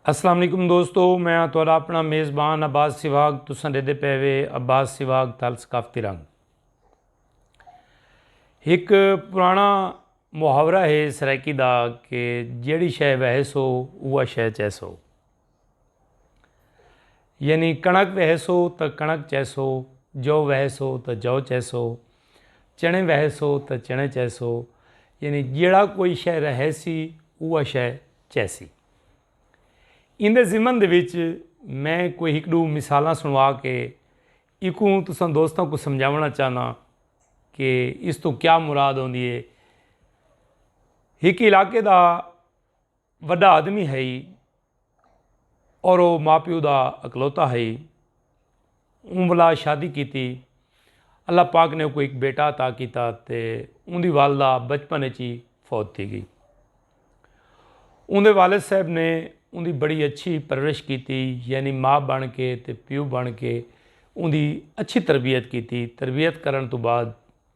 السلام علیکم دوستو میں ہاں تہاڈا اپنا میزبان عباس سواگ تساں ڈیدے پے وے عباس سواگ تل ثقافتی رنگ ایک پرانا محاورہ ہے سرائیکی دا کہ جیڑی شے وہے سو اوہ شے چیسو یعنی کݨک وہیسو تاں کݨک چیسو، جو وہیسو تاں جو چیسو، چݨے وہیسو تاں چݨے چیسو، یعنی جیڑھا کوئی شے رہیسی اوہ شے چیسی۔ ایندے ضمن دے وچ میں کوئی ہک ݙو مثالاں سݨوا کے ایکوں تساں دوستاں کوں سمجھاوݨا چاہناں کہ اس توں کیا مراد ہوندی ہے۔ ہک علاقے دا وݙا آدمی ہئی اور او ماء پیو دا اکلوتا ہئی۔ اوں ولا شادی کیتی۔ اللہ پاک نے اوکوں ہک بیٹا عطا کیتا تے اوندی والدہ بچپن اچ ہی فوت تھی گئی۔ اوندے والد صاحب نے اوندی بڑی اچھی پرورش کیتی یعنی ماء بݨ کے تے پیو بݨ کے اوندی اچھی تربیت کیتی۔ تربیت کرݨ توں بعد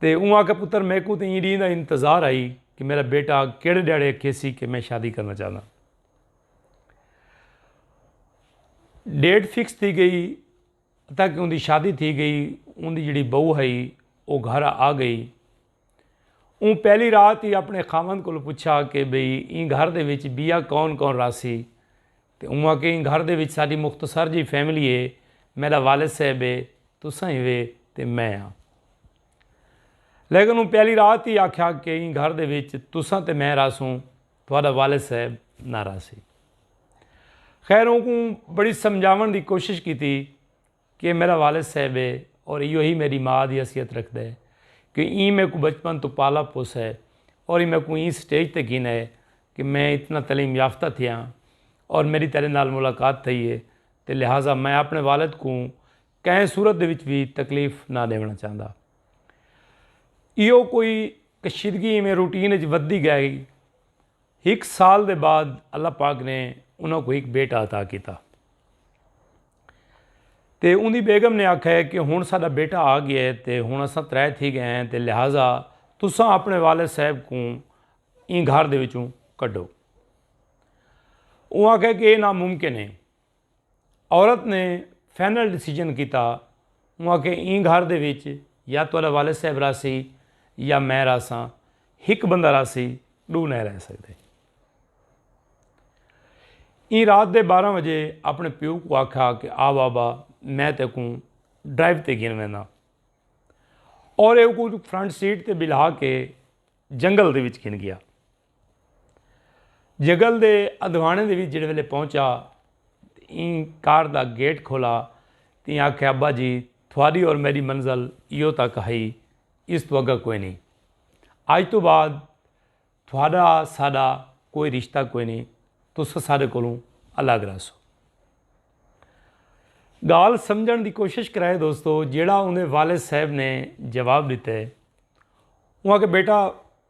تے اوں آکھیا پتر میکوں تے ایں ڈینہہ دا انتظار ہئی کہ میرا بیٹا کیڑھے ڈیہاڑے اکھیسی کہ میں شادی کرنا چاہنداں۔ ڈیٹ فکس تھی گئی اتا کہ اوندی شادی تھی گئی اوندی جڑی بہو ہئی او گھر آ گئی۔ اوں پہلی رات ہی اپنے خاوند کولوں پچھا کہ بھئی ایں گھر دے وچ بیا کون کون راہسی تے اوں آکھیا ایں گھر دے وچ ساڈی مختصر جئی فیملی اے، میڈا والد صاحب اے، تساں ہیوے تے میں ہاں۔ لیکن اوں پہلی رات ای آکھیا کہ ایں گھر دے وچ تساں تے میں رہسوں، تہاڈا والد صاحب نہ رہسی۔ خیر اوں کوں بڑی سمجھاوݨ دی کوشش کیتی۔ کہ میڈا والد صاحب ہے اور ایہو ہی میڈی ماء دی حیثیت رکھدا ہے کہ ایں میکوں بچپن توں پالا پوسا ہے اور ایں میکوں ایں سٹیج تے گھینا ہے کہ میں اتنا تعلیم یافتہ تھیا ہاں اور میڈی تیڈے نال ملاقات تھئی ہے تے لہذا میں اپنے والد کوں کہیں صورت دے وچ وی تکلیف نہ ڈیونڑاں چاہندا۔ ایہو کوئی کشیدگی ایویں روٹین وچ ودھدی گئی۔ ہک سال دے بعد اللہ پاک نے انہاں کوں ہک بیٹا عطا کیتا۔ تے اوندی بیگم نے آکھا ہے کہ ہن ساڈا بیٹا آ گیا ہے تے ہن اساں ترے تھی گئے ہیں تے لہذا تساں اپنے والد صاحب کوں ایں گھر دے وچوں کڈھو۔ اوہ آکھا کہ اے ناممکن ہے۔ عورت نے فائنل ڈیسیجن کیتا اونہاں آکھیا ایں گھر دے وچ یا تہاڈا والد صاحب راہسی یا میں راہساں ہک بندہ راہسی ڈو نئیں رہ سکدے ایں رات دے بارہ وجے اپنے پیو کو آکھا کہ آ بابا میں تے کو ڈرائیو تے گن وینا اور اے کو فرنٹ سیٹ تے بلہا کے جنگل دے وچ گن گیا جگل دے ادھوانے دے وچ جڑے ویلے پہنچا تے ایں کار دا گیٹ کھولا تے ایں آکھیا ابا جی تھواری اور میری منزل ایو تک ہئی اس تو اگا کوئی نہیں اج تو بعد تھوارا ساڈا کوئی رشتہ کوئی نہیں تسا ساڈے کولوں الگ رہسو گال سمجھن دی کوشش کرائے دوستو جیڑا اوندے والد صاحب نے جواب دیتے اوں آکھیا بیٹا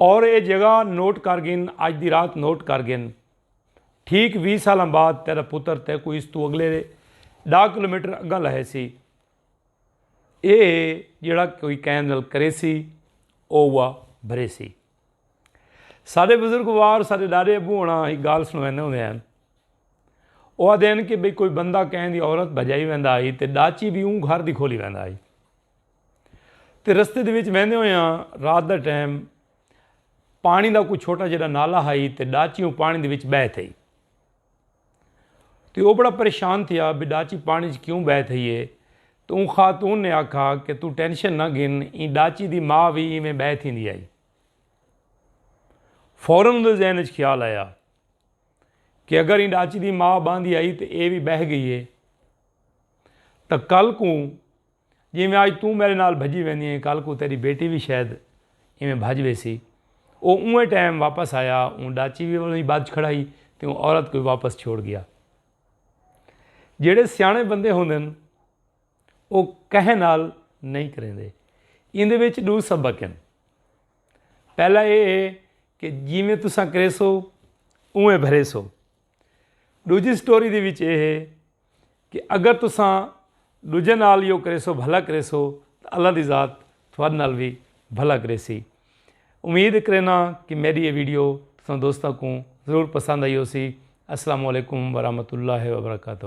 اور اے جگہ نوٹ کر گھن اج دی رات نوٹ کر گھن ٹھیک وی سالاں بعد تیرا پتر تے کو اس تو اگلے ڈا کلومیٹر اگاں لہے سی اے جڑا کوئی کین نل کرے سی او وا بھرے سی سارے بزرگ وار سارے ڈاڈے ابو ہونا ہی گال سنوے نہ ہوندے ہیں او آدھے ہیں کہ بھئی کوئی بندہ کہیں دی عورت بھجائی ویندا ہی تے ڈاچی بھی اون گھر دی کھولی ویندا ہی تے رستے دے وچ ویندے ہوئے آں رات دا ٹائم پانی دا کوئی چھوٹا جیڑا نالا ہائی تے ڈاچی اوں پانی دے وچ بہہ تھئی تے او بڑا پریشان تھیا بھی ڈاچی پانی وچ کیوں بہہ تھئی ہے تے اوں خاتون نے آکھا کہ تو ٹینشن نہ گھن ایں ڈاچی دی ماء وی ایویں بہہ تھیندی آئی فورن اون دے ذہن وچ خیال آیا کہ اگر ایں ڈاچی دی ماء باندھی آئی تے اے وی بہہ گئی ہے تاں کل کوں جیویں اج توں میڈے نال بھجی ویندی ایں کل کوں تیڈی بیٹی وی شاید ایویں بھج ویسی۔ او اونویں ٹائم واپس آیا اوں ڈاچی وی اونویں بھج کھڑائی تے اوں عورت کوں وی واپس چھوڑ گیا۔ جیڈے سیانے بندے ہوندن او کہیں نال نئیں کریندے۔ ایندے وچ ڈو سبق ہن۔ پہلا ایہ ہے کہ جیویں تساں کریسو اونویں بھریسو۔ ڈوجھی سٹوری دے وچ اے ہے کہ اگر تساں ڈوجھے نال یو کریسو بھلا کریسو تاں اللہ دی ذات تھوڑے نال وی بھلا کریسی امید کرینا کہ میری یہ ویڈیو تساں دوستاں کو ضرور پسند آئی ہو سی السلام علیکم ورحمۃ اللہ وبرکاتہ